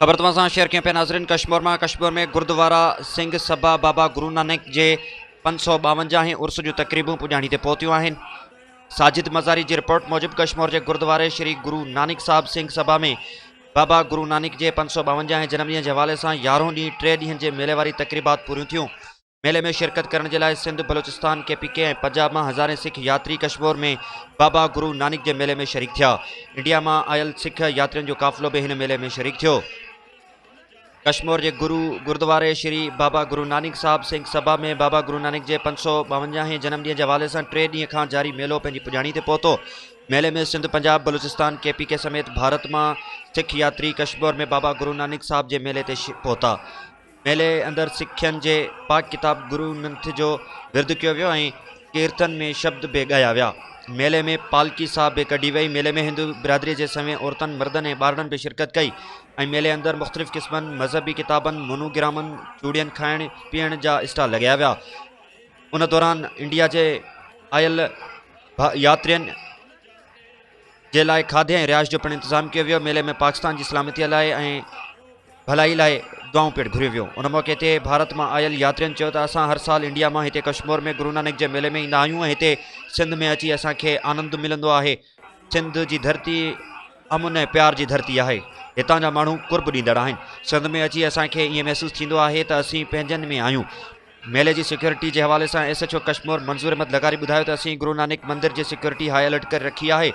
خبر توهان سان شيئر ڪيون پيا ناظرين ڪشمور مان ڪشمور ۾ گردوارا سنگھ سبا بابا گرو نانڪ جي پنج سو ٻاونجاهين عرس جون تقريبون پڄاڻي تي پهتيون آهن ساجد مزاري جي رپورٽ موجب ڪشمور جي گردواري شري گرو نانڪ صاحب سنگھ سبا ۾ بابا گرو نانڪ جي پنج سو ٻاونجاهين جنم ڏينهن جي حوالي سان يارهون ڏينهن ٽي ڏينهن جي ميلي واري تقريبات پوريون ٿيون ميلي ۾ شرڪت ڪرڻ جي لاء Sindh, Balochistan, K P K ۽ Punjab مان هزارين سک ياتري ڪشمور ۾ بابا گرو نانڪ جي ميلي ۾ شريڪ ٿيا. انڊيا مان آيل سک ياترين جو قافلو به هن ميلي ۾ شريڪ ٿيو. ڪشمور جي گرو گردواري شري بابا گرو نانڪ صاحب سنگ سڀا ۾ بابا گرو نانڪ جي پنج سؤ ٻاونجاهه هين جنم ڏينهن جي حوالي سان ٽي ڏينهن کان جاري ميلو پنهنجي پڄاڻي تي پهتو. ميلي ۾ Sindh, Punjab, Balochistan, K P K سميت ڀارت مان سک ياتري ڪشمور ۾ بابا گرو نانڪ صاحب جي ميلي تي پهتا. ميلي اندر سکن جي پاڪ ڪتاب گرو ننٿ جو ورد ڪيو ويو ۽ ڪيرتن ۾ شبد به ڳايا ويا. ميلي ۾ پالڪي صاحب به ڪڍي وئي. ميلي ۾ هندو برادري جي سوين عورتن، مردن ۽ ٻارڙن به شرڪت ڪئي ۽ ميلي اندر مختلف قسمن مذهبي ڪتابن، مونوگرامن، چوڙين، کائڻ پيئڻ جا اسٽال لڳايا ويا. ان دوران انڊيا جي آيل ياترين، جي لاء کاڌي ۽ رهائش جو پڻ انتظام ڪيو ويو ميلي ۾ پاڪستان جي سلامتي لاء ۽ ڀلائي لاء دعائون پڻ گهريون ويون ان موقعي تي ڀارت مان آيل ياترين چيو ته اسان هر سال انڊيا مان هتي ڪشمور ۾ گرونانڪ جي ميلي ۾ ايندا آهيون ۽ هتي سنڌ ۾ اچي اسان کي آنند ملندو آهي سنڌ جي ڌرتي امن ۽ پيار جي ڌرتي آهي هتان جا ماڻهو قرب ڏيندڙ آهن سنڌ ۾ اچي اسان کي ائين محسوس ٿيندو آهي ته اسين پنهنجن ۾ آهيون ميلي جي سيڪيورٽي جي حوالي سان S H O Kashmore Manzoor Ahmed لغاري ٻڌايو ته اسين گرو نانڪ مندر جي سيڪيورٽي هاء الرٽ ڪري رکي آهي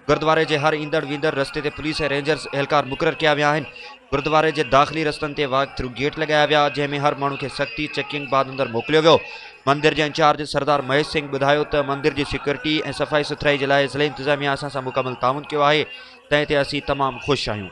گردواري جي هر ايندڙ ويندڙ رستي تي پوليس ۽ رينجرز اهلڪار مقرر ڪيا ويا آهن گردواري جي داخلي رستن تي واڪ ٿرو گيٽ لڳايا ويا جنهن ۾ هر ماڻهو کي سختي چيڪنگ بعد اندر موڪليو ويو مندر جي انچارج سردار مهيش سنگهه ٻڌايو ته مندر جي سيڪيورٽي ۽ صفائي سٿرائي جي لاء ضلعي انتظاميا اسان سان مڪمل تعاون ڪيو آهي تنهن تي اسين تمام خوش آهيون